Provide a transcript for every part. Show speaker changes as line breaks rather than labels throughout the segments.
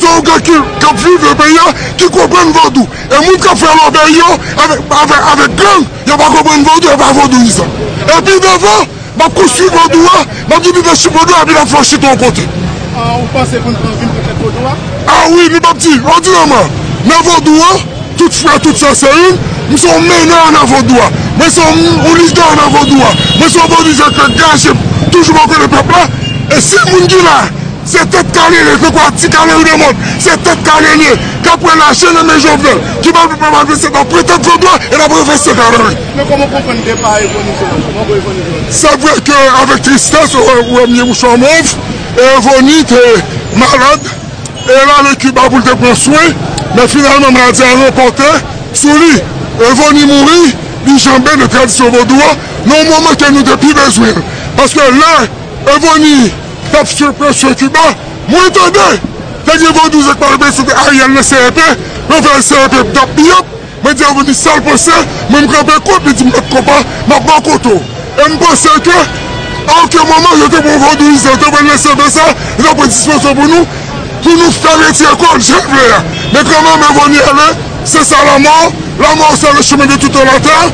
Se yon gang ki kap viv nan peyi a ki konprann vodou e moun kap fè lòbèy yo avèk gang yo pa konprann vodou yo pa vodouyizan e pi devan map konstwi vodou a map gen lidèchip vodou a epi lap fè yon chita yon kote
a wi nou pap
di òdinèman nan vodou a tout frè tout sè se youn mwen se yon menè nan vodou a mwen se yon lidè nan vodou a mwen se yon vodouyizan ki angajem toujou bò kote pèp la e si moun ki la. Se tèt kale li ye se kwa ti kale li nan mòd se tèt kale li ye kap pran lache nan men jovenel ki pral pou pèp a vin se nan pre tèt vodwa e nan pre fè sèk avèl wi. Men kòman w konprann
depa Evony Jones? Manbo Evony Jones? Se vre ke
avèk tristès ou wè m gen mouchwa mov e Evony te malad e l ale Kiba pou l te pran swen men finalman maladi a ranpòte sou li Evony mouri li janbe nan tradisyon vodou a nan yon moman ke nou te pi bezwen l paske lè Evony t ap sibi presyon Kiba. Mwen tande te gen vodouz ak malpwòpte sou Ariel nan CEP, nan fèl CEP bdap biyòp, mwen di Avni sa l panse, mwen m kanpe kont li di m bat konpa, m ap bò kot ou. E m panse ke a oken moman yo te pran vodouyizan, yo te pran nan CEP sa, yo t ap pran dispozisyon pou nou, pou nou fè retire kò l jan l vle a. Men kanmèm Avni ale, se sa lamò, lamò se le chemen de tout homme à terre.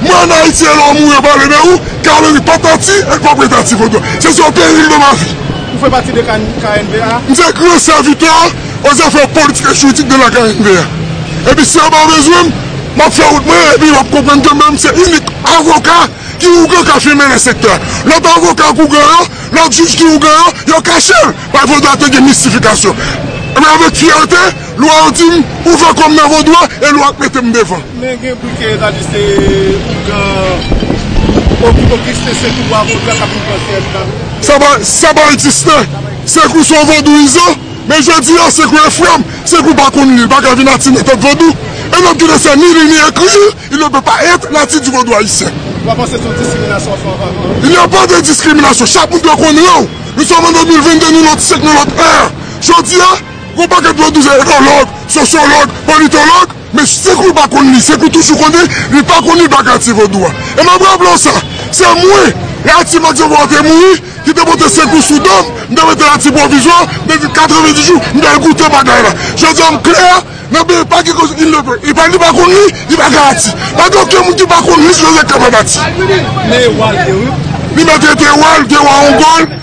Mwen an Ayiti e lè w mouri yo pale de ou, kale wi, pa pati e n pa pran ta ti foto w. Se sèl peril nan ma vi. Ou fè pati de
KNVA? M se gran
sèvitè o zafè politik e jiridik de la KNVA. Epi si yo pa bezwen m, m ap fè wout mwen epi yo ap konprann ke mwen m se inik avoka ki ougan ka fime nan sektè a. Lòt avoka k ougan yo, lòt jij ki ougan yo, yo kache l. Pafwa ta te gen mistifikasyon. Men avèk fyète. Lwa yo dim ouvè kòm nan vodou a e lwa ap metem devan. Men gen bri ke
ta di se ougan Ogisten
Sekou wa vodou a kap viv nan syèl la. Sa pa egziste. Sekou se yon vodouyizan. Men jodi a Sekou e frèm. Sekou pa konn li, li pa ka vin ati nan tèt vodou. E lòm ki te sè ni li ni ekri, il ne peut pas être natif du vodou haïtien. Wa panse se yon diskriminasyon wap fè anvè mwen. Il n'y a pas de discrimination. Chak moun dwe konn ran w. Nou sòm an 2022 nou lòt syèk nou lòt è. Jodi a. Gon paket dlo dous etològ, sosyològ, politològ, men se kou l pa konn li, se kou toujou konnen li pa konn li bak Ati Vodou a. E m ap raple w sa, se mwen, lè Ati Max Jean-Paul te mouri, ki te pote sekou sou do m, m te mete l Ati Pwovizwa, men vin 90 jou, m te al goute bagay la. Jodi a m klè, nan peyi pa gen koze il ne peut. E pa li pa konn li, li pa gen Ati. Pa gen okenn moun ki pa konn li sou rezèk kapab Ati.
Li
maltrete wa l, te wa Ongòl,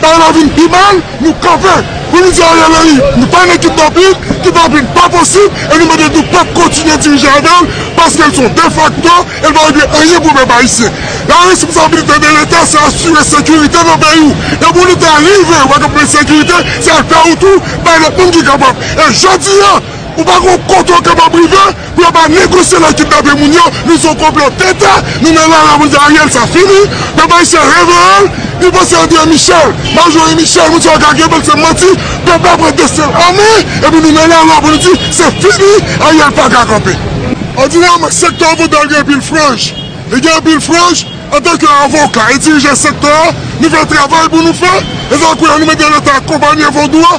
Bagay la vin pi mal, nou kanpe pou nou di Ariel Henry nou pa nan ekip Dapit, ki pa vin pa posib e nou mande nou pap kontinye dirije avè l paske l se yon defakto e l pa regle anyen pou pèp ayisyen. La responsabilite de leta se asire sekirite nan peyi w e pou leta rive wè gen pwoblèm sekirite se afè ou tou bay lòt moun ki kapab e jodi a Ou pa gon kote ou kapab rive pou yo pa negosye lè kidnape moun yo li son konplo tenten nou men la la moun sa ariel sa fini pèp ayisyen reveyel li panse andre michel majori michel moun sa yo ka kenbel se manti pèp la pran destinl anmen epi nou men la la pou nou di se fini ariel paka kanpe. Òdinèman, sektè avoka gen anpil franj. Li gen anpil franj, antanke avoka e dirijan sektè a, nou fè travay pou nou fè, e sa kwè an nou mande leta akonpanye Vodou a,